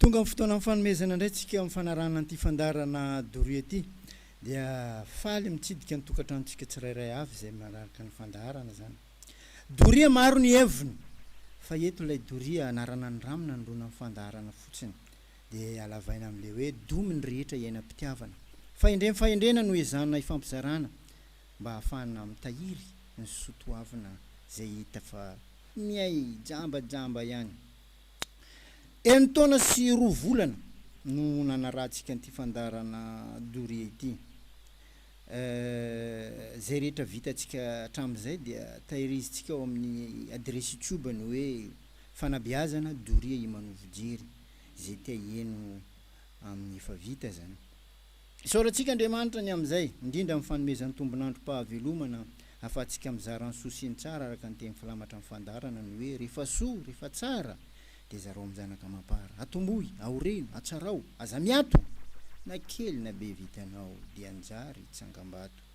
Tonga amin'ny fotoanan'ny fanomezana indray tsika amin'ny fanarahana an'ity fandaharana Doria ity. Dia faly mitsidika ny tokantranontsika tsirairay avy izay manaraka ny fandaharana izany. Doria maro ny heviny fa eto ilay doria anarana ny rano nanoloana ny fandaharana fotsiny dia halavaina amin'ilay hoe domy ny rehetra iainam-pitiavana. Fahendrem-fahendrena no ezahana hifampizarana. mba hahafahana mitahiry ny sotoavina izay hita fa miay jambajamba ihany. Enin-taona sy roa volana no nanarahantsika an'ity fandaharana doria ity. Izay rehetra vitantsika hatramin'izay dia tahirizintsika ao amin'ny adiresy youtube ny hoe Fanabeazana doria Imanovo Jery izay te-haheno amin'ny efa vita izany. Isaora antsika Andriamanitra ny amin'izay, indrindra amin'ny fanomezany tombon'androm-pahavelomana ahafahantsika mizara ny soa sy ny tsara araka ny teny filamatra amin'ny fandaharana ny hoe, Rehefa soa, rehefa tsara, dia zarao amin'ny zanaka amam-para. Atombohy, aoreno, atsarao, aza miato! Na kely na be vitanao dia anjary tsangambato.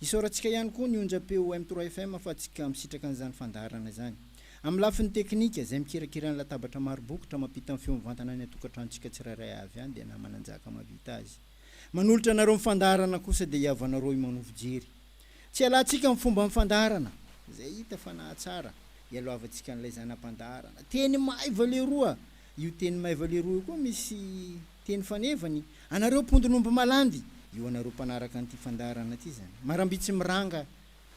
Isaorantsika ihany koa ny onjam-peo M trois FM fa tsy ka misitraka an'izany fandaharana izany. Amin'ny lafiny teknika, izay mikirakira ny latabatra maro bokotra mampita ny feo mivantana any an-tokantranontsika tsirairay avy any dia namana njaka mahavita azy. Manolotra anareo ny fandaharana kosa dia i havanareo i Mano Fijery. Tsy ialatsika amin'ny fomban'ny fandaharana, izay hita fa nahatsara, ialoavantsika an'ilay zana-pandaharana. Teny maiva leroa! Io teny maiva leroa io koa misy. Teny fanevany, anareo mpondin'omby malandy! Io anareo mpanaraka an'ity fandaharana ity izany. Maramby tsy miranga,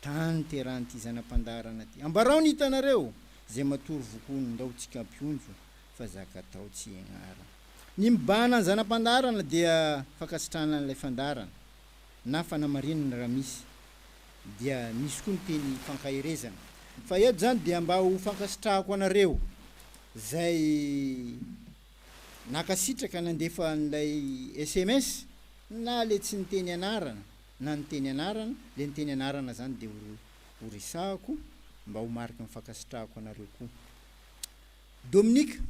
tany terahan'ity zana-pandaharana ity. Ambarao ny hitanareo, izay matory vokono, ndao tsy kampionjo, fa zaka atao tsy ianara. Ny mibahana ny zana-pandaharana dia fankasitrahana an'ilay fandaharana, na fanamarinana raha misy, dia misy koa ny teny fankaherezana. Fa eto izany dia mba ho fankasitrahako anareo, izay. Nankasitraka nandefa an'ilay sms na le tsy niteny anarana na niteny anarana, le niteny anarana zany de ho resahako mba ho mariky ny fankasitrahako anareo koa. Dominique,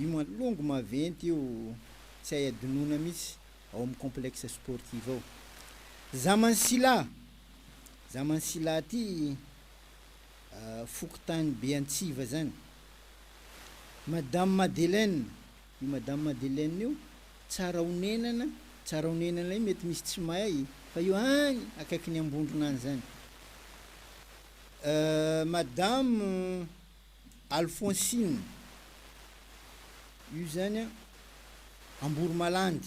io mantsy longo maventy io tsy hay adinoina mihitsy ao amin'ny complexe sportif ao. Zaman'Sila, Zaman'Sila ty. fokontany Beantsiva zany. Madame Madeleine, io Madame Madeleine io tsara honenana, tsara honenana io mety misy tsy mahay fa io any akaikin'i Ambondrona any zany. Madame Alphonsine, io zany a Amboromalandy.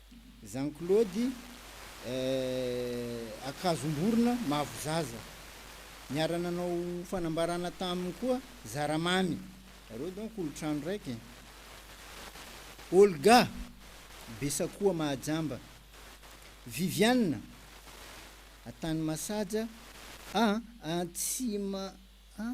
Jean Claude, Eh, Ankazomborona, Mavo Zaza. Niara-nanao fanambarana taminy koa Zaramamy. Ireo donc olo-trano raiky e. Olga, Besakoa Mahajamba. Viviane, Antanimasaja, ah, Antsima, ah.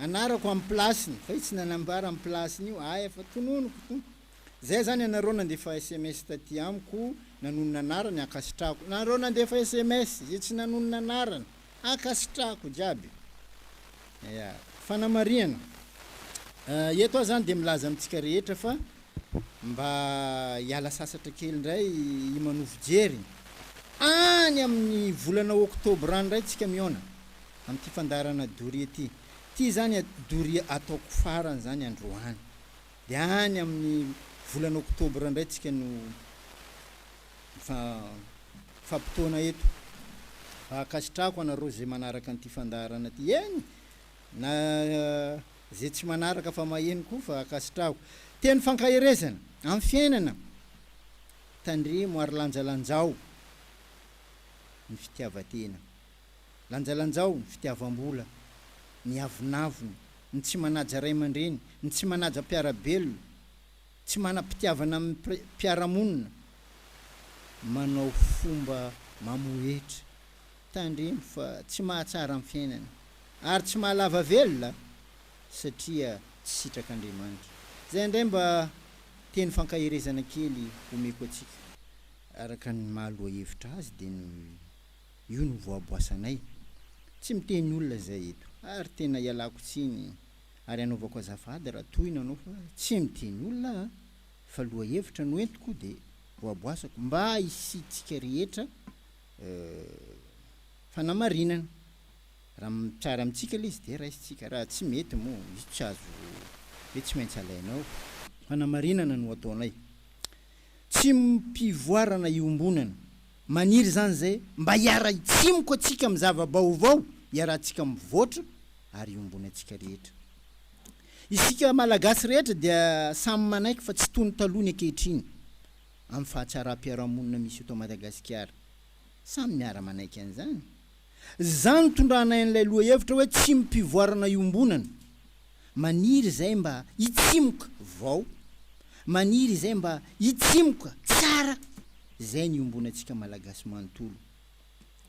Anarako am place-ny fa io tsy nanambara am place-ny io ahy fa tononiko to. Zay zany anareo nandefa sms taty amiko nanonona anarany ankasitrahako nareo nandefa sms ze tsy nanonona anarany ankasitrahako jiaby ya fanamarihana ah eto ah zany de milaza amitsika rehetra fa mba hiala sasatra kely ndray i manovo jery any aminy volana octobre any ndray tsika mihaona Amin'ity fandaharana doria ity. Ity izany doria ataoko farany izany androany. Dia any amin'ny volana oktobra indray tsika no mifampitoana eto. Fa ankasitrahako anareo izay manaraka an'ity fandaharana ity. Eny na izay tsy manaraka fa maheno koa fa ankasitrahako. Teny fankaherezana amin'ny fiainana. Tandremo ary lanjalanjao ny fitiavan-tena. Lanjalanjao ny fitiavam-bola, ny avonavona, ny tsy manaja ray aman-dreny, ny tsy manaja mpiara-belona, tsy manam-pitiavana amin'ny mpiara-monina, manao fomba mamohetra, tandremo fa tsy mahatsara ny fiainana ary tsy mahalava velona satria tsy sitrak'Andriamanitra. Izay indray mba teny fankaherezana kely omeko antsika. Araka ny maha lohahevitra azy dia ny. Io no voaboasanay. Tsy miteny olona zay eto ary tena ialako tsiny ary anaovako azafady raha toa ianao fa tsy miteny olona aho fa lohahevitra no entiko de voaboasako mba hisiantsika rehetra fanamarinana raha mitsara amintsika le izy de raisintsika raha tsy mety moa izy tsy azo hoe tsy maintsy alainao fanamarinana no ataonay. Tsy mpivoarana iombonana Maniry izany izay mba hiara-hitsimoko antsika amin'ny zava-baovao, iarahantsika mivoatra ary iombony antsika rehetra. Isika Malagasy rehetra dia samy manaiky fa tsy toy ny taloha ny ankehitriny amin'ny fahatsaram-piarahamonina misy eto Madagasikara. Samy miara-manaiky an'izany. Zah nitondranay an'ilay lohahevitra hoe tsimim-pivoarana iombonana. Maniry izay mba hitsimoka vao. Maniry izay mba hitsimoka tsara. Izay ny iombonantsika Malagasy manontolo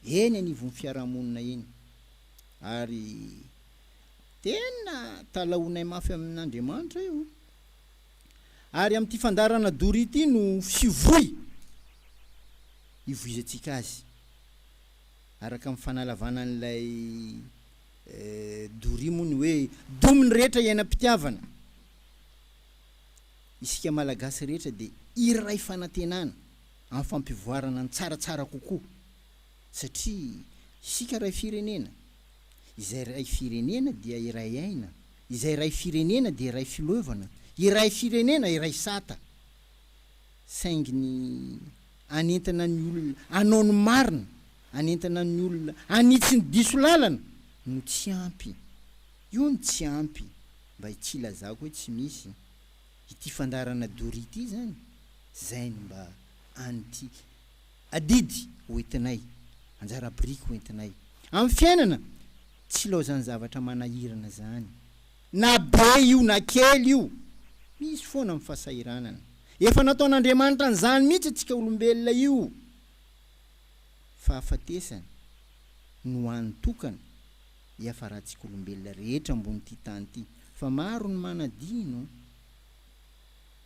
eny anivon'ny fiarahamonina eny. Ary tena talahoinay mafy amin'Andriamanitra io. Ary amin'ity fandaharana doria ity no fivoy hivoizantsika azy. araka ny fanalavana an'ilay doria moa ny hoe domy ny rehetra iainam-pitiavana. Isika Malagasy rehetra dia iray fanantenana amin'ny fampivoarana ny tsaratsara kokoa satria isika iray firenena, izay iray firenena dia iray aina, izay iray firenena dia iray fileovana, iray firenena iray sata saingy ny. hanentana ny olona hanao ny marina, hanentana ny olona hanitsy ny diso lalana no tsy ampy. Io no tsy ampy mba tsy hilazako hoe tsy misy. Ity fandaharana doria ity izany, izay no mba an'ity adidy ho entinay, anjara biriky ho entinay amin'ny fiainana tsy ilaozan'ny zavatra manahirana izany. Na be io na kely io, misy foana ny fahasahiranana. Efa nataon'Andriamanitra an'izany mihitsy antsika olombelona io. Fahafatesana no hany tokana hiafarantsika olombelona rehetra ambonin'ity tany ity. Fa maro ny manadino.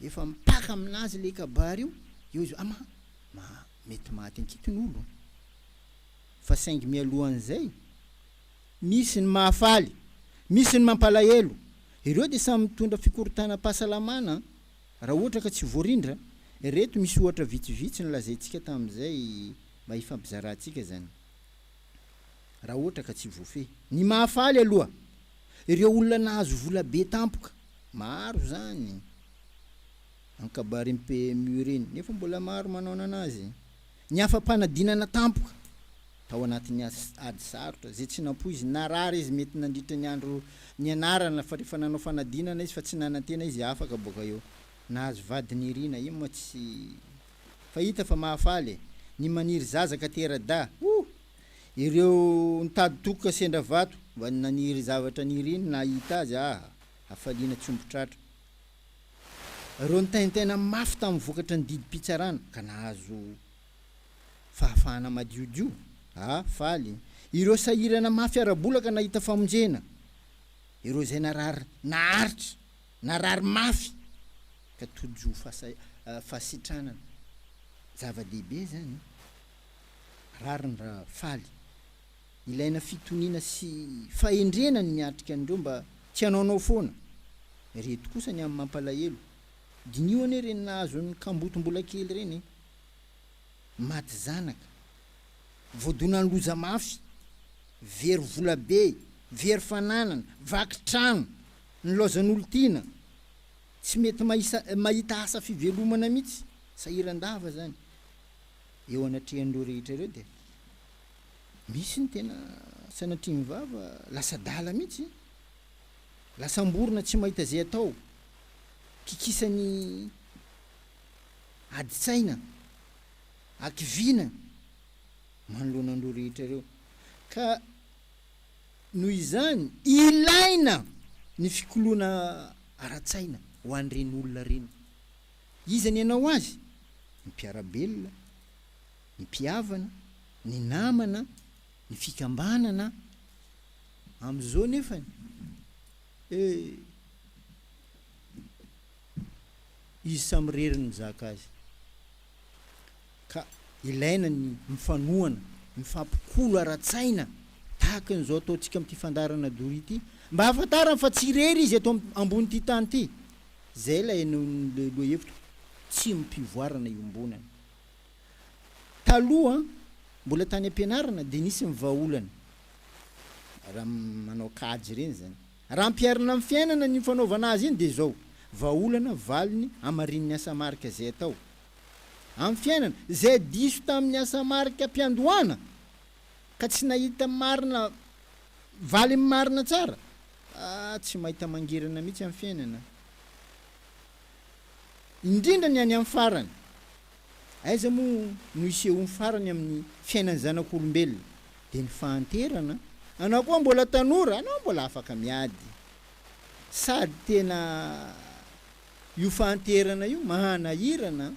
Efa mipaka amin'azy ilay kabary io, eo izy hoe, ama, mety maty ankiton'olo. Fa saingy mialohan'izay. Misy ny mahafaly, misy ny mampalahelo, ireo dia samy mitondra fikorontanam-pahasalamana raha ohatra ka tsy voarindra, ireto misy ohatra vitsivitsy nolazaintsika tamin'izay mba hifampizarantsika izany raha ohatra ka tsy voafehy. Ny mahafaly aloha, ireo olona nahazo vola be tampoka, maro izany an-kabarin'ny PMU ireny, nefa mbola maro manaonana azy. Ny afa-panadinana tampoka tao anatin'ny ady sarotra, izay tsy nampoiziny, narary izy mety nandritra ny andro nianarana fa rehefa nanao fanadinana izy fa tsy nanantena izy afaka boaka eo, nahazo vady nirina, iny moa tsy fa hita fa mahafaly e! ny maniry zaza ka tera-dahy, oh! ireo nitady tokoka sendra vato mba naniry zavatra niriny nahita azy, ah! hafaliana tsy omby tratra. Ireo nitaintaina mafy tamin'ny vokatry ny didim-pitsarana ka nahazo fahafahana madiodio, a faly. Ireo sahirana mafy ara-bola ka nahita famonjena. Ireo izay narary naharitra, narary mafy ka tojo ho fahasitranana. Zava-dehibe izany e! Rariny raha faly. Ilaina fitoniana sy fahendrena ny miatrika an'ireo mba tsy hanaonao foana. Ireto kosa ny amin'ny mampalahelo, diniho anie ireny nahazo an'ny kamboty mbola kely ireny e! Maty zanaka, voadonan'ny loza mafy, very vola be, very fananana, vaky trano, nilaozan'olon-tiana, tsy mety mahita asa fivelomana mihitsy, sahiran-dava izany. Eo anatrehan'ireo rehetra ireo dia. Misy ny tena sanatria vava lasa adala mihitsy, lasa amborona tsy mahita izay atao, kikisan'ny adin-tsaina, hakiviana manoloana an'ireo rehetra ireo. Ka noho izany, ilaina ny fikoloana ara-tsaina ho an'ireny olona ireny. Iza ny hanao azy? Ny mpiara-belona. ny mpihavana, ny namana, ny fikambanana, amin'izao nefany eh! izy samy irery no mizaka azy ka ilaina ny mifanohana, mifampikolo ara-tsaina tahaka an'izao ataontsika amin'ity fandaharana doria ity mba hahafantarany fa tsy irery izy eto ambonin'ity tany ity, izay ilay lohahevitro, tsy mpivoarana iombonana. Taloha, mbola tany am-pianarana dia nisy ny vahaolana, raha manao kajy ireny izany. Raha ampiharina amin'ny fiainana ny fanaovana azy iny dia izao, vahaolana, valiny, hamarinin'ny asa marika izay atao amin'ny fiainana, izay diso tamin'ny asa marika am-piandohana ka tsy nahita marina, valiny marina tsara, ah, tsy mahita mangirana mihitsy amin'ny fiainana, indrindra ny any amin'ny farany. Aiza moa no isehoany farany amin'ny fiainan'ny zanak'olombelona? Dia ny fahanterana? Anao koa mbola tanora, anao mbola afaka miady. Sady tena io fahanterana io mahanahirana an!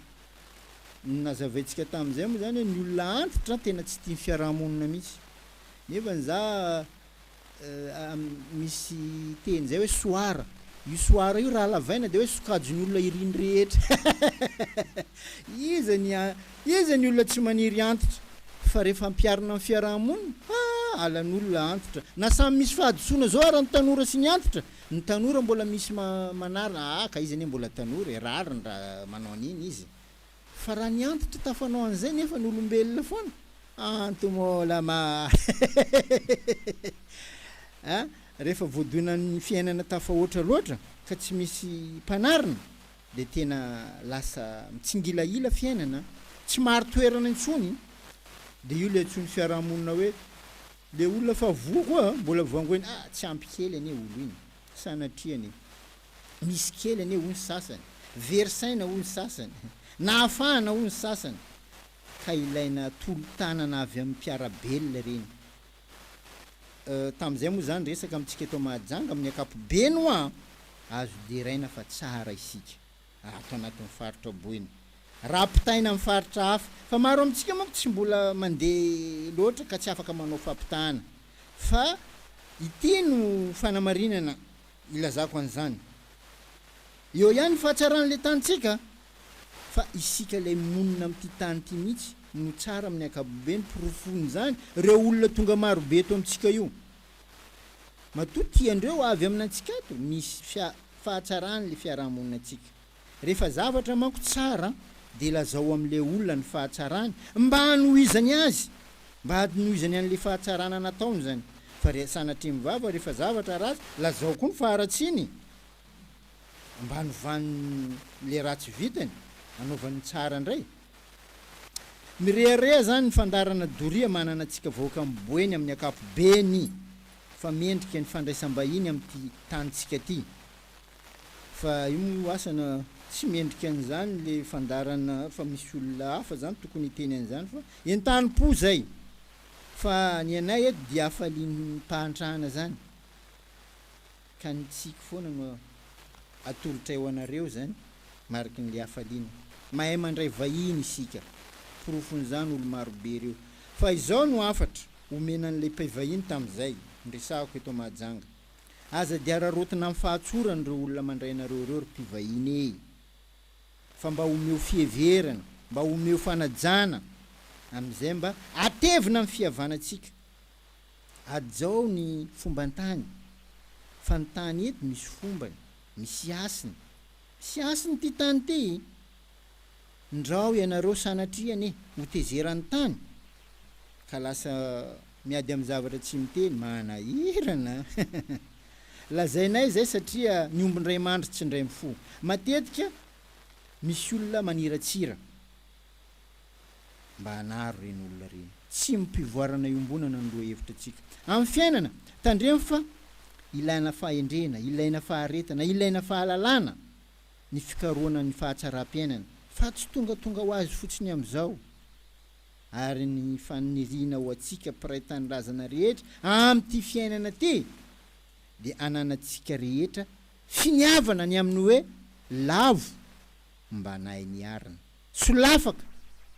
Nazavaintsika tamin'izay moa izany hoe ny olona antitra tena tsy tia ny fiaraha-monina mihitsy. Nefa ny za Misy teny zay hoe soara. Io soara io raha halavaina dia hoe sokajon'ny olona iriny rehetra. Iza ny iza ny olona tsy maniry antitra? Fa rehefa ampiharina amin'ny fiaraha-monina, ha, alan'olona antitra. Na samy misy fahadisoana zao ara ny tanora sy ny antitra. Ny tanora mbola misy manarina, ah ka izy anie mbola tanora e, rariny raha manao an'iny izy. Fa raha ny antitra tafanao an'izay nefa ny olombelona foana? Antomola ma a! Rehefa voadoina ny fiainana tafahoatra loatra ka tsy misy mpanarina dia tena lasa mitsingilahila fiainana, tsy mari-toerana intsony. Dia io ilay antsoin'ny fiarahamonina hoe ilay olona fa voa koa mbola vangoina, ah tsy ampy kely anie olo iny, sanatriany e! Misy kely anie hoy ny sasany, very saina hoy ny sasany, nahafahana hoy ny sasany, ka ilaina tolo-tanana avy amin'ny mpiara-belona ireny. Euh, tamin'izay moa izany resaka amintsika eto Mahajanga amin'ny ankapobeny hoa azo deraina fa tsara isika ato anatin'ny faritra Boina raha ampitaina amin'ny faritra hafa, fa maro amintsika manko tsy mbola mandeha loatra ka tsy afaka manao fampitahana, fa ity no fanamarinana Ilazako an'izany. Eo ihany ny fahatsaran'ilay tanintsika fa isika ilay monina amin'ity tany ity mihitsy no tsara amin'ny ankapobeny, porofon'izany ireo olona tonga maro be eto amintsika io. Matoa tiandreo avy aminantsika ato ny fahatsaran'ilay fiarahamoninantsika. Rehefa zavatra manko tsara dia lazao amin'ilay olona ny fahatsarany mba hanohizany azy, mba hadinohizany an'ilay fahatsarana nataony izany. Fa ry sanatria mivava rehefa zavatra ratsy lazao koa ny faharatsiany mba hanovany ilay ratsy vitany, hanaovany ny tsara indray. Mirehareha izany ny fandaharana doria manana antsika vahoaka amin'ny Boeny amin'ny ankapobeny fa mendrika ny fandraisam-bahiny amin'ity tanintsika ity. Fa io moa io asa na tsy mendrika an'izany le fandaharana fa misy olona hafa zany tokony hiteny an'izany fa entanim-po zay fa ny anay eto dia hafaliam-pahantrana zany ka ny tsiky foana no atolotray ho anareo zany mariky ny le hafaliana mahay mandray vahiny isika porofon'izany olo marobe reo fa izao no hafatra omena an'ilay mpivahiny tamin'izay niresahako eto Mahajanga. Aza dia araraotina amin'ny fahatsorany ireo olona mandray anareo ireo ry mpivahiny e! Fa mba omeo fiheverana, mba omeo fanajana, amin'izay mba atevina ny fihavanantsika. Hajao ny fomban-tany, fa ny tany eto misy fombany, misy hasiny. Misy hasiny ity tany ity! Ndrao ianareo sanatria anie ho tezeran'ny tany ka lasa miady amin'ny zavatra tsy miteny. Manahirana an! Lazainay izay satria ny omby indray mandry tsy indray mifoha. Matetika misy olona maniratsira mba hanary ireny olona ireny. Tsy mpivoarana iombonana ny lohahevitrantsika. Amin'ny fiainana, tandremo fa ilana fahendrena, ilaina faharetana, ilaina fahalalana. ny fikarohana ny fahatsaram-piainana fa tsy tongatonga ho azy fotsiny amin'izao ary ny faniriana ho antsika mpiray tanindrazana rehetra amin'ity fiainana ity dia ananantsika rehetra finiavana ny amin'ny hoe lavo mba anay niarina solafaka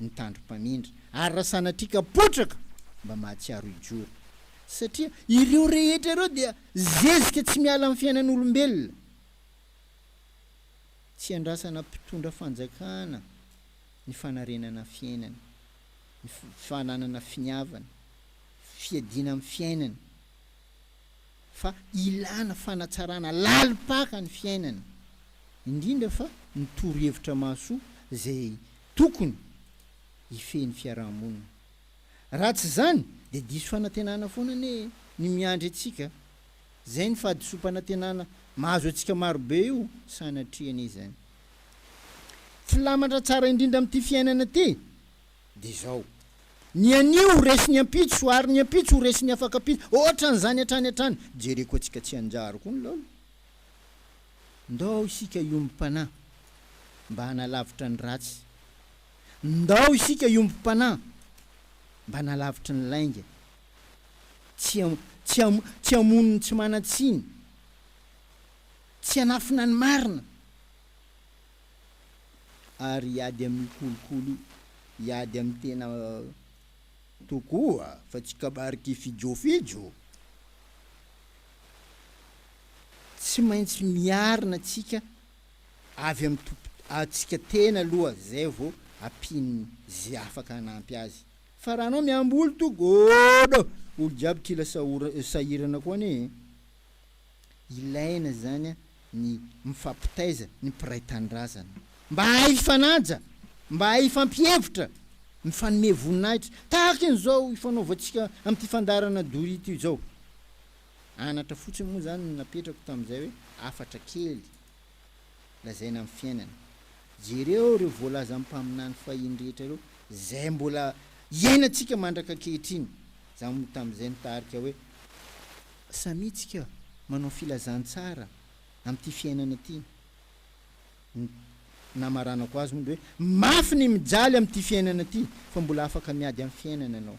ny tandrom-pamindra ary raha sanatria ka potraka mba mahatsiaro hijoro satria ireo rehetra ireo dia zezika tsy miala amin'ny fiainan'olombelona. Tsy andrasana mpitondra fanjakana ny fanarenana fiainana, ny fananana finiavana, fiadiana amin'ny fiainana, fa ilana fanatsarana lalim-paka ny fiainana, indrindra fa ny torohevitra mahasoa izay tokony hifehy ny fiaraha-monina. Raha tsy izany dia diso fanantenana foana anie ny miandry antsika Izay ny fahadisoam-panantenana mahazo antsika marobe io sanatria anie izany. Filamatra tsara indrindra amin'ity fiainana ity dia izao, Ny anio ho resin'ny ampitso, ary ny ampitso ho resin'ny afakampitso, hoatran'izany hatrany hatrany. Jereko antsika tsy hanjary koa ny laolo. Ndao isika hiombom-panahy mba hanalavitra ny ratsy. Ndao isika hiombom-panahy mba hanalavitry ny lainga. Tsy tsy hamono ny tsy manan-tsiny. Tsy hanafina ny marina. Ary hiady amin'ny kolikoly, hiady amin'ny tena tokoa fa tsy kabary kifijofijo. Tsy maintsy miarina tsika avy amin'ny tompo antsika tena aloha zay vao ampian'ny ze afaka hanampy azy. Fa raha anao miamboly to godo olo jiaby kila sahirana koa anie e! Ilaina izany ny mifampitaiza ny mpiray tanindrazana. Mba hahay hifanaja, mba hahay hifampihevitra, mifanome voninahitra tahaka an'izao ifanaovantsika amin'ity fandaharana doria ity izao. Anatra fotsiny moa izany no napetrako tamin'izay hoe hafatra kely lazaina amin'ny fiainana. Jereo ireo voalazan'ny mpaminany fahiny rehetra ireo, izay mbola iainantsika mandraka ankehitriny. Izaho moa tamin'izay nitarika hoe, Samia tsika manao filazantsara amin'ity fiainana ity. Ny namaranako azy hono dia hoe, Mafy ny mijaly amin'ity fiainana ity, fa mbola afaka miady amin'ny fiainana ianao.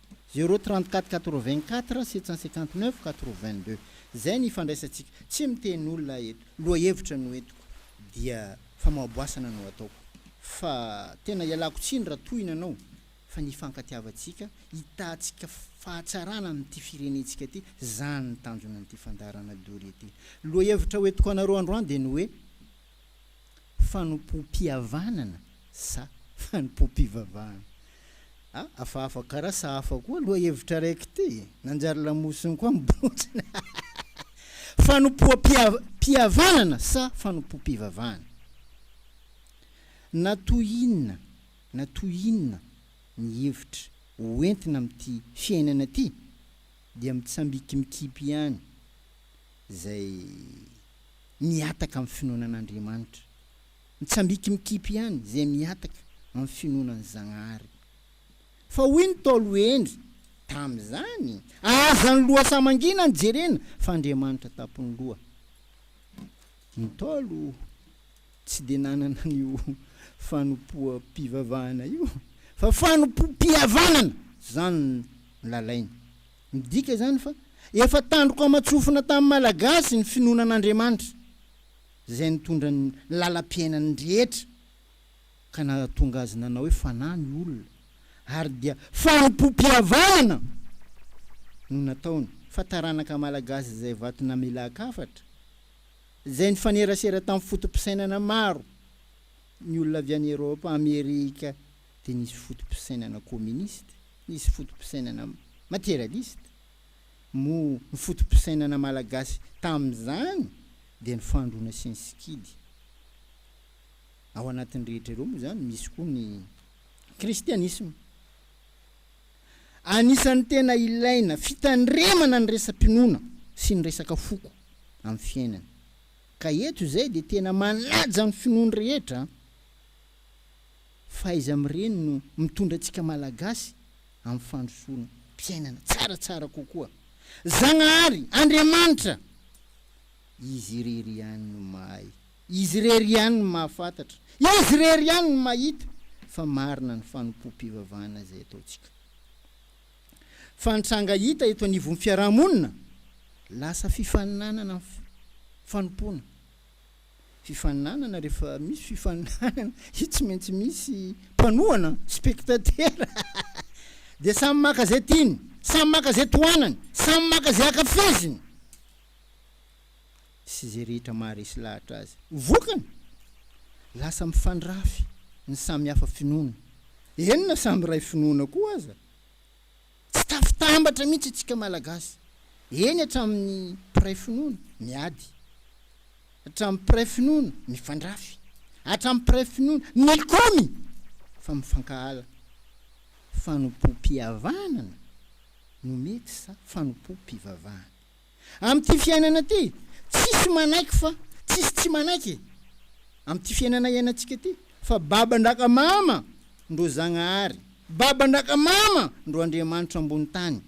Zéro trente quatre quatre vingt quatre sept cent cinquante neuf quatre vingt deux zay ny ifandraisantsika tsy miteny olona aho eto lohahevitra no entiko dia famoaboasana no ataoko fa tena ialako tsiny raha tohina anao fa ny ifankatiavantsika hitahantsika fahatsarana amin'ity firenentsika ity zany ny tanjonan'ity fandaharana dory ity lohahevitra ho entiko anareo androany dia ny hoe Fanompoam-pihavanana sa fanompoam-pivavahana? A, hafahafa kara sa hafa koa lohahevitra raiky ity? Nanjary lamosiny koa ny bontiny. Fanompoam-pihavanana sa fanompoam-pivavahana? Na toy inona na toy inona ny hevitra ho entina amin'ity fiainana ity dia mitsambikimikipy ihany izay. mihataka amin'ny finoana an'Andriamanitra, mitsambiki mikipy ihany izay mihataka amin'ny finoana an'i Zagnahary. Fa hoy ny Ntaolo Hendry tamin'izany, aza ny loha sahy mangina no jerena fa Andriamanitra tampon'ny loha. Ny Ntaolo tsy dia nanana an'io fanompoam-pivavahana io fa fanompoam-pihavanana izany no nilalainy. Midika izany fa efa tandroka aman-tsofina tamin'ny Malagasy ny finoana an'Andriamanitra, izay nitondra ny lalam-piainany rehetra, ka nahatonga azy nanao hoe fanahy ny olona, ary dia fanompoam-pihavanana no nataony, fa taranaka malagasy izay vato namelan-kafatra, izay nifanerasera tamin'ny foto-pisainana maro ny olona avy any Eropa, Amerika, dia nisy foto-pisainana kominista, nisy foto-pisainana materialista. Moa ny foto-pisainana malagasy tamin'izany dia ny fandroana sy ny sikidy. Ao anatin'ny rehetra ireo moa izany misy koa ny kristianisma. Anisan'ny tena ilaina fitandremana ny resa-pinoana sy ny resaka foko amin'ny fiainana. Ka eto izay dia tena manaja ny finoan'ny rehetra. Fahaiza mireny no mitondra antsika Malagasy amin'ny fandrosoana mpiainana tsaratsara kokoa. Zagnahary, Andriamanitra! Izy irery ihany no mahay, Izy irery ihany no mahafantatra, Izy irery ihany no mahita fa marina ny fanompoam-pivavahana izay ataontsika. Fa ny tranga hita eto anivon'ny fiaraha-monina, lasa fifaninanana ny fanompoana. Fifaninanana rehefa misy fifaninanana dia tsy maintsy misy mpanohana, spectateur, dia samy maka izay tiany, samy maka izay tohanany, samy maka izay ankafiziny sy izay rehetra maharesy lahatra azy. Vokany, lasa mifandrafy ny samy hafa finoana, eny na samy iray finoana koa aza. Tsy tafitambatra mihitsy isika Malagasy, eny hatramin'ny mpiray finoana miady, hatramin'ny mpiray finoana mifandrafy, hatramin'ny mpiray finoana mikomy fa mifankahala. Fanompoam-pihavanana no mety sa fanompoam-pivavahana? Amin'ity fiainana ity, tsisy manaiky fa tsisy tsy manaiky e! Amin'ity fiainana iainantsika ity, fa baban-dRakamama ndro Zagnahary, baban-dRakamama ndro Andriamanitra ambony tany.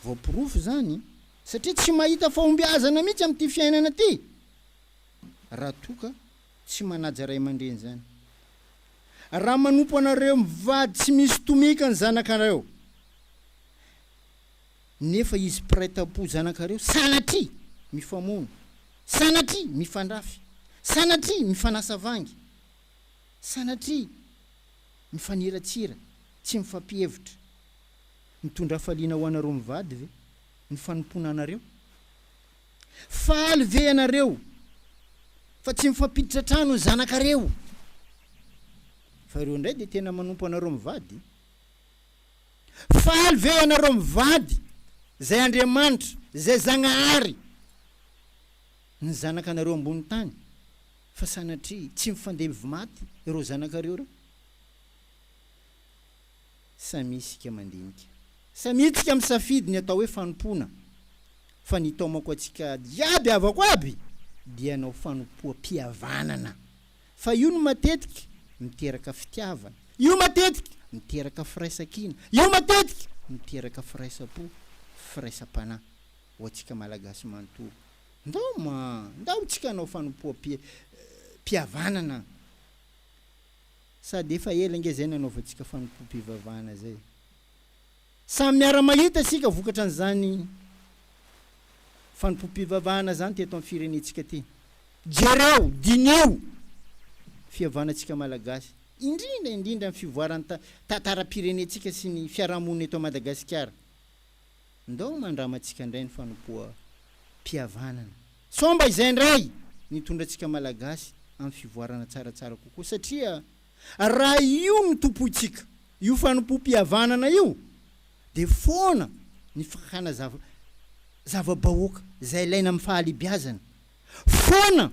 Voaporofo izany, satria tsy mahita fahombiazana mihitsy amin'ity fiainana ity raha toa ka tsy manaja ray aman-dreny izany. Raha manompo anareo mivady tsy misy tomika ny zanakareo, nefa izy mpiray tampo zanakareo sanatria mifamono, sanatria mifandrafy, sanatria mifanasa vangy, sanatria mifaniratsira, tsy mifampihevitra. Mitondra hafaliana ho anareo mivady ve ny fanompoana anareo? Faly ve ianareo fa tsy mifampiditra trano ny zanakareo fa ireo indray dia tena manompo anareo mivady? Faly ve ianareo mivady izay Andriamanitra, izay Zagnahary ny zanakanareo ambony tany fa sanatria tsy mifandevy maty ireo zanakareo ireo? Samia isika mandinika. Samia isika misafidy ny atao hoe fanompoana fa ny taomako antsika iaby havako aby dia hanao fanompoam-pihavanana. Fa io no matetika miteraka fitiavana. Io matetika miteraka firaisankina. Io matetika miteraka firaisam-po, firaisam-panahy ho antsika Malagasy manontolo. Ndao ma, ndao tsika hanao fanompoam-pihavanana. Sady efa ela ange zay nanaovantsika fanompoam-pivavahana zay. Samy miara-mahita isika vokatra an'izany fanompoam-pivavahana izany teto amin'ny firenentsika ity. Jereo, diniho, fihavanantsika Malagasy, indrindra indrindra amin'ny fivoaran'ny ta, tantaram-pirenentsika sy ny fiarahamonina eto Madagasikara. Ndao mandramantsika indray ny fanompoam-pihavanana. Sao mba izay indray no hitondra antsika Malagasy amin'ny fivoarana tsaratsara kokoa satria. Raha io no tompointsika io fanompoam-pihavanana io dia foana ny fakana zava zava-bahoaka izay ilaina amin'ny fahalebiazana, foana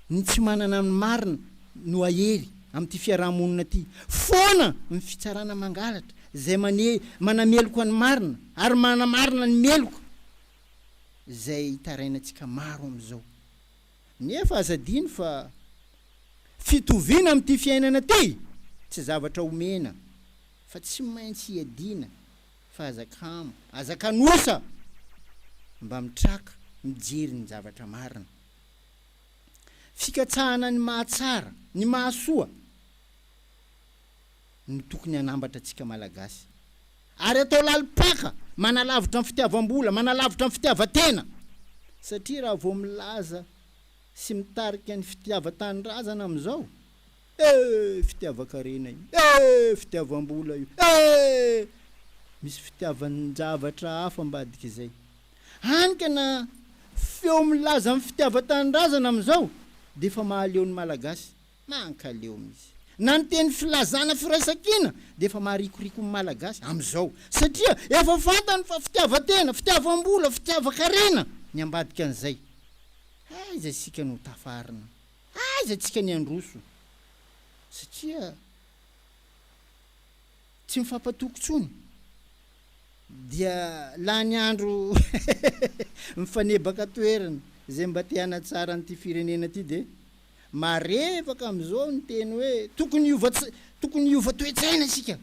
ny tsy manana ny marina no hahery amin'ity fiaraha-monina ity, foana ny fitsarana mangalatra izay mane manameloka ny marina ary manamarina ny meloka izay hitarainantsika maro amin'izao. Nefa aza adino fa fitoviana amin'ity fiainana ity tsy zavatra omena fa tsy maintsy iadiana fa aza kamo, aza kanosa mba mitraka mijery ny zavatra marina. Fikatsahana ny mahatsara, ny mahasoa. no tokony hanambatra antsika Malagasy. Ary atao lalim-paka, manalavitra ny fitiavam-bola, manalavitra ny fitiavan-tena. Satria raha vao milaza sy mitarika ny fitiavan-tanindrazana amin'izao, eh! fitiavan-karena io, eh! fitiavam-bola io, eh! misy fitiavan-javatra hafa ambadik'izay. Hany ka na feo milaza ny fitiavan-tanindrazana amin'izao dia efa mahaleo ny Malagasy. Mankaleo mihitsy. Na ny teny filazana firaisankina dia efa maharikoriko ny Malagasy amin'izao satria efa fantany fa fitiavan-tena, fitiavam-bola, fitiavan-karena ny ambadika an'izay. Aiza isika no ho tafarina? Aiza antsika ny handroso? Satria tsy mifampatoky intsony dia lany andro mifanebaka toerana. Izay mba te hanatsara an'ity firenena ity dia. Marevaka amin'izao ny teny hoe tokony hiova tokony hiova toe-tsaina isika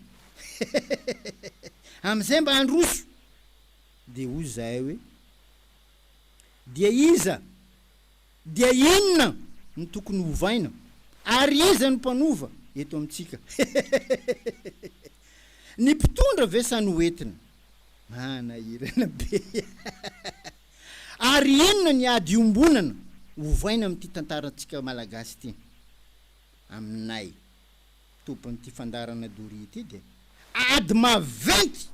amin'izay mba handroso. Dia hoy izahay hoe, Dia iza, dia inona no tokony hovaina, ary iza no mpanova eto amintsika? Ny mpitondra ve sa ny hoentina? Manahirana be. Ary inona ny ady iombonana ovaina amin'ity tantarantsika malagasy ity? Aminay tompon'ity fandaharana doria ity dia ady maventy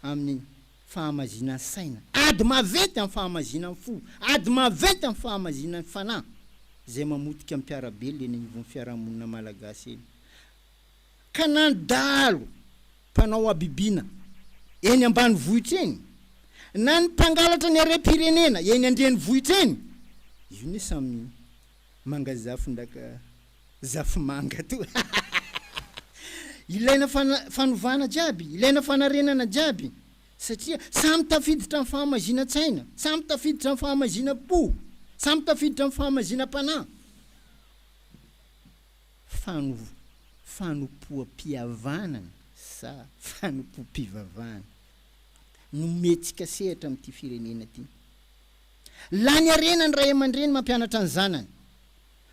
amin'ny fahamazinan saina, ady maventy amin'ny fahamazinan fo, ady maventy amin'ny fahamazinan fanahy izay mamotika mpiara-belona eny anivon'ny fiarahamonina malagasy eny. ka na ny dahalo mpanao habibiana eny ambanivohitra eny, na ny mpangalatra ny harem-pirenena eny an-drenivohitra eny, io ne samy manga zafy ndaka zafy manga to hahahaha! Ilaina fanovana jiaby, ilaina fanarenana jiaby satria samy tafiditra amin'ny fahamaizinan-tsaina, samy tafiditra amin'ny fahamaizinan-po, samy tafiditra amin'ny fahamaizinam-panahy. fanompoam-pihavanana sa fanompoam-pivavahana no mihetsika sehatra amin'ity firenena ity? Lany harena ny ray aman-dreny mampianatra ny zanany,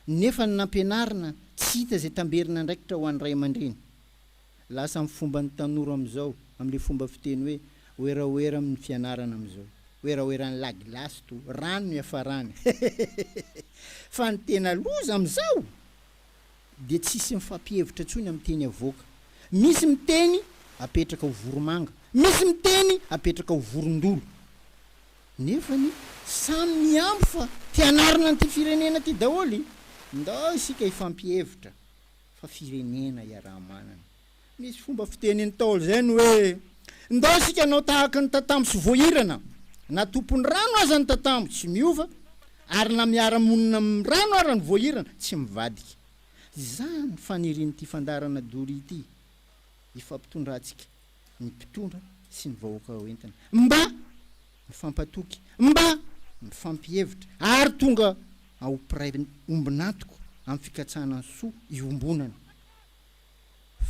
nefa ny nampianarina tsy hita izay tamberin'andraikitra ho an'ny ray aman-dreny. Lasa amin'ny fomban'ny tanora amin'izao, amin'ilay fomba fiteny hoe werawera amin'ny fianarana amin'izao. Weraweran'ny lagilasy to, rano ny hiafarany. Hehehehe. Fa ny tena loza amin'izao dia tsisy mifampihevitra intsony amin'ny teny avoaka. Misy miteny apetraka ho voromanga, misy miteny apetraka ho vorondolo. Nefa ny samy mihambo fa te hanarina an'ity firenena ity daholo. Ndao isika hifampihevitra. fa firenena iaraha-manana. Misy fomba fiteny Ntaolo izay ny hoe, Ndao isika hanao tahaka ny tatambo tsy voahirana, na tompon'ny rano aza ny tatambo, tsy miova, ary na miara-monina amin'ny rano ara ny voahirana, tsy mivadika. Izany fanirian'ity fandaharana Doria ity hifampitondrantsika ny mpitondra sy ny vahoaka ho entina mba mifampatoky, mba mifampihevitra ary tonga ao mpiray ombon'antoka amin'ny fikatsahana ny soa iombonana.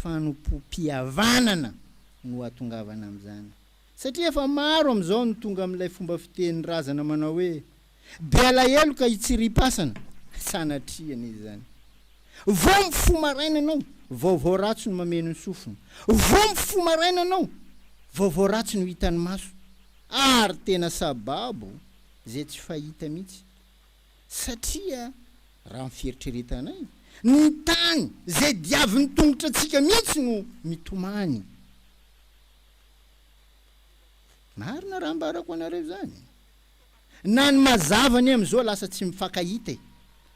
Fanompoam-pihavanana no hahatongavana amin'izany satria efa maro amin'izao ny tonga amin'ilay fomba fitenin'ny razana manao hoe Be alahelo ka hitsiripasana sanatria anie izany. Vao mifoha maraina ianao, vaovao ratsy no mameno ny sofina. Vao mifoha maraina ianao, vaovao ratsy no hita ny maso. Ary tena sababo izay tsy fahita mihitsy. Satria raha ny fieritreretanay, ny tany izay diavin'ny tongotratsika mihitsy no mitomany. Marina raha ambarako anareo izany. Na ny mazava anie amizao lasa tsy mifankahita e!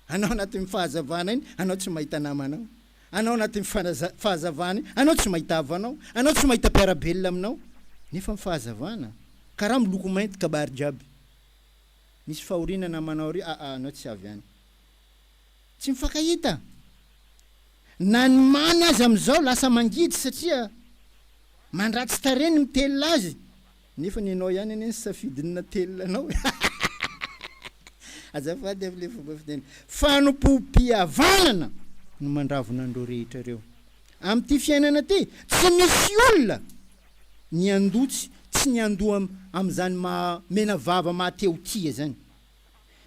Anao anatin'ny fahazavana iny anao tsy mahita namanao, anao anatin'ny fahazavana iny anao tsy mahita havanao, anao tsy mahita mpiara-belona aminao nefa ny fahazavana karaha miloko mainty kabary jiaby. Misy fahoriana namanao ry aa anao tsy avy any. Tsy mifankahita! Na ny mamy aza amizao lasa mangidy satria mandratsy tarehy ny mitelina azy. Nefa ny anao ihany anie ny safidin'ny natelina anao e! Azafady avy le fomba fiteny. Fanompoam-pihavanana no mandravona an'ireo rehetra ireo. Amin'ity fiainana ty, tsy misy olona ny handoa tsy ny handoa amin'izany maha menavava maha teotia izany.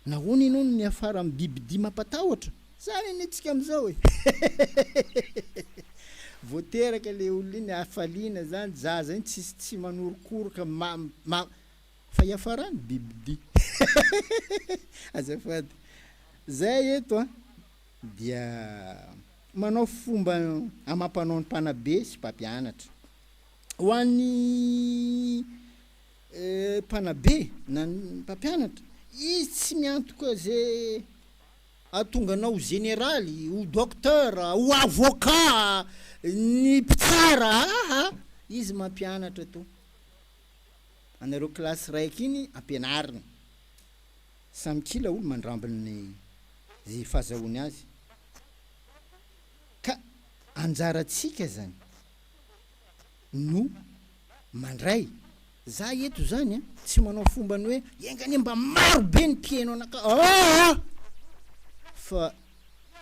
Nahoana ianao no miafara amin'ny bibidia mampatahotra? Izany anie antsika amin'izao e! Vao teraka ilay olona iny, hafaliana izany, zaza iny tsisy tsy manorokoroka, ma, ma, fa iafarany bibidia. Azafady. Izay eto an, dia manao fomba amam-panaon'ny mpanabe sy mpampianatra. Ho an'ny. Eh mpanabe na mpampianatra izy tsy miantoka ze ahatonga anao ho zeneraly, ho docteur, ho avocat, ny mpitsara aa izy mampianatra to anareo classe raiky iny ampianariny samy kila olo mandramby ny ze fazahoany azy ka anjaratsika zany no Mandray. Za eto zany a tsy manao fombany hoe enga anie mba maro be ny mpiheno anakah aa! fa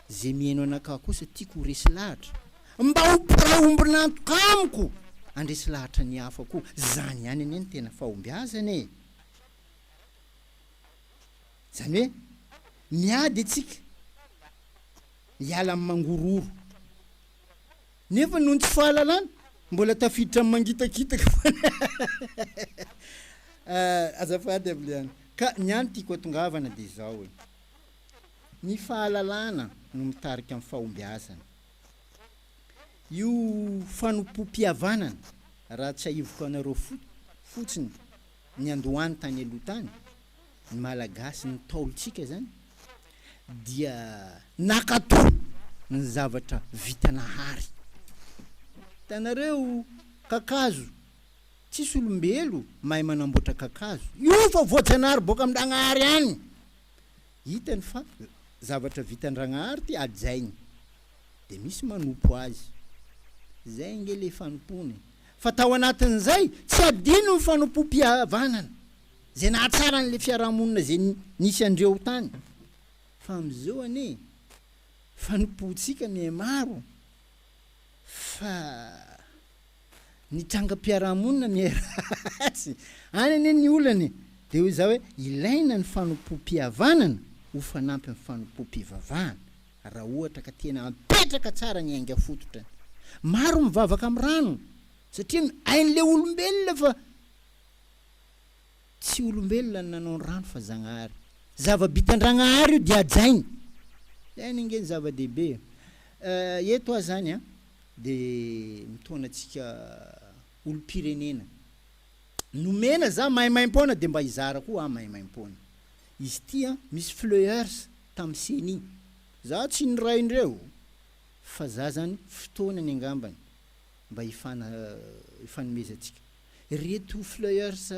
ze miheno anakah kosa tiako ho resy lahatra mba ho mpiray ombon'antoka amiko andresy lahatra ny hafa koa zany ihany anie ny tena fahombiazana e! zany hoe miady atsika hiala amin'ny mangorohoro Nefa noho ny tsy fahalalana, mbola tafiditra amin'ny mangitakitaka foana. Azafady Aviliana, ka ny any tiako atongavana dia izao e. Ny fahalalana no mitarika amin'ny fahombiazana. Io fanompoam-pihavanana, raha tsiahivoka anareo fotsiny, Niandohany tany aloha tany ny Malagasy ny Ntaolontsika izany dia nakato ny zavatra vitanahary. Hitanareo kakazo, tsisy olombelo mahay manamboatra kakazo. Io fa voajanahary boaka amin-dragnahary any. Hitany fa zavatra vitan-dragnahary ity hajainy. Dia misy manompo azy. Izay ange ilay fanompoana e. Fa tao anatin'izay, tsy adino ny fanompoam-pihavanana izay nahatsara an'ilay fiarahamonina izay nisy an-dreo tany. Fa amin'izao anie, fanompoantsika mihamaro, fa ny trangam-piarahamonina miharatsy. Any anie ny olana e! Dia hoy izaho hoe, ilaina ny fanompoam-pihavanana ho fanampin'ny fanompoam-pivavahana. raha ohatra ka tena apetraka tsara ny ainga fototra. Maro mivavaka amin'ny rano satria ny ain'ilay olombelona fa tsy olombelona no nanao ny rano fa Zagnahary. Zava-bitan-Dragnahary io dia hajainy. Zany ange ny zava-dehibe. Eto aho zany an, dia mitaona antsika olom-pirenena. Nomena za maimaimpoana dia mba hizara koa aho maimaimpoana. Izy ity an, misy fleurs Tam ceni. Za tsy niray ndreo fa za zany fotoanany angambany mba hifana hifanomezantsika. Reto fleurs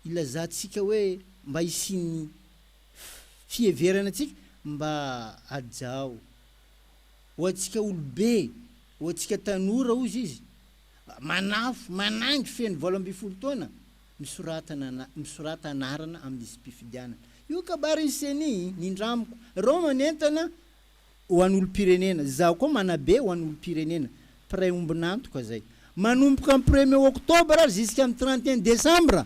ilazantsika hoe mba hisian'ny fiheverana antsika mba hajao. Ho antsika olobe, ho antsika tanora ozy izy manafo, manangy feno valo ambin'ny folo taona. misoratana na misorata anarana amin'ny lisi-pifidianana. Io kabarin'ny ceni, nindramiko. Ireo manentana ho an'olom-pirenena, izaho koa manabe ho an'olom-pirenena. Mpiray ombon'antoka izay. Manomboka amin'ny premier octobre jusqu'amin'ny trente et un décembre,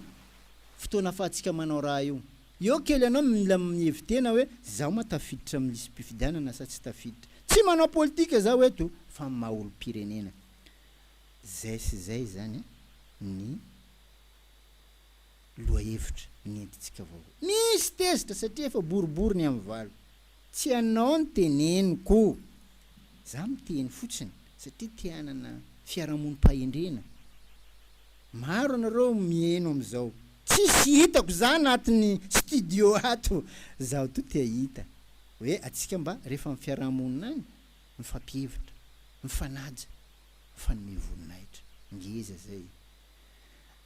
fotoana afahantsika manao raha io. Eo kely ianao mila mihevi-tena hoe izaho moa tafiditra amin'ny lisi-pifidianana sa tsy tafiditra. Tsy manao politika izaho eto fa maha olom-pirenena. Izay sy izay izany ny lohahevitra nentintsika vaovao. Misy tezitra satria efa boribory ny amin'ny valo. Tsy ianao no teneniko. Izaho miteny fotsiny satria te hanana fiarahamonim-pahendrena. Maro ianareo miheno amin'izao. Tsisy hitako izaho anatin'ny studio ato. Izaho toa te hahita. Hoe antsika mba rehefa amin'ny fiarahamonina any, mifampihevitra, mifanaja. fanome voninahitra. Ngeza zay.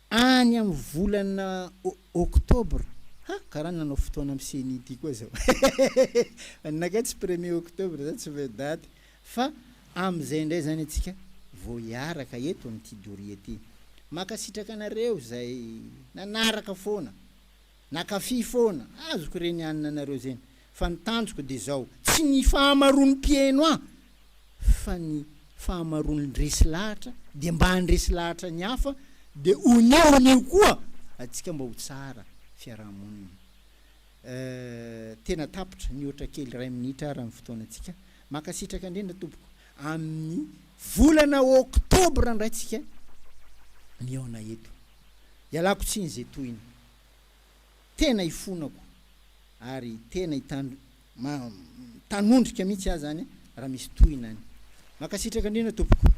Any amin'ny volana octobre, ha, karaha nanao fotoana amin'ny ceni ity koa zao. Anakay tsy premier octobre zany tsy mahay daty. Fa amin'izay indray zany antsika vao hiaraka eto amin'ity doria ity. Mankasitraka anareo izay nanaraka foana. Nakafy foana, azoko re ny anina nareo zeny, fa ny tanjoko de zao, tsy ny fahamaroan'ny mpieno ahy fa ny fahamaroan'ny resy lahatra de mba handresy lahatra ny hafa de onio onio koa atsika mba ho tsara fiarahamonina eh tena tapitra nihoatra kely iray minitra ara ny fotoanantsika mankasitraka indrindra tompoko amin'ny volana oktobra ndray tsika mihaona eto ialako tsiny ze tohina. tena ifonako ary tena itandro ma tanondrika mihitsy aho zany raha misy tohina any. Mankasitraka indrindra tompoko.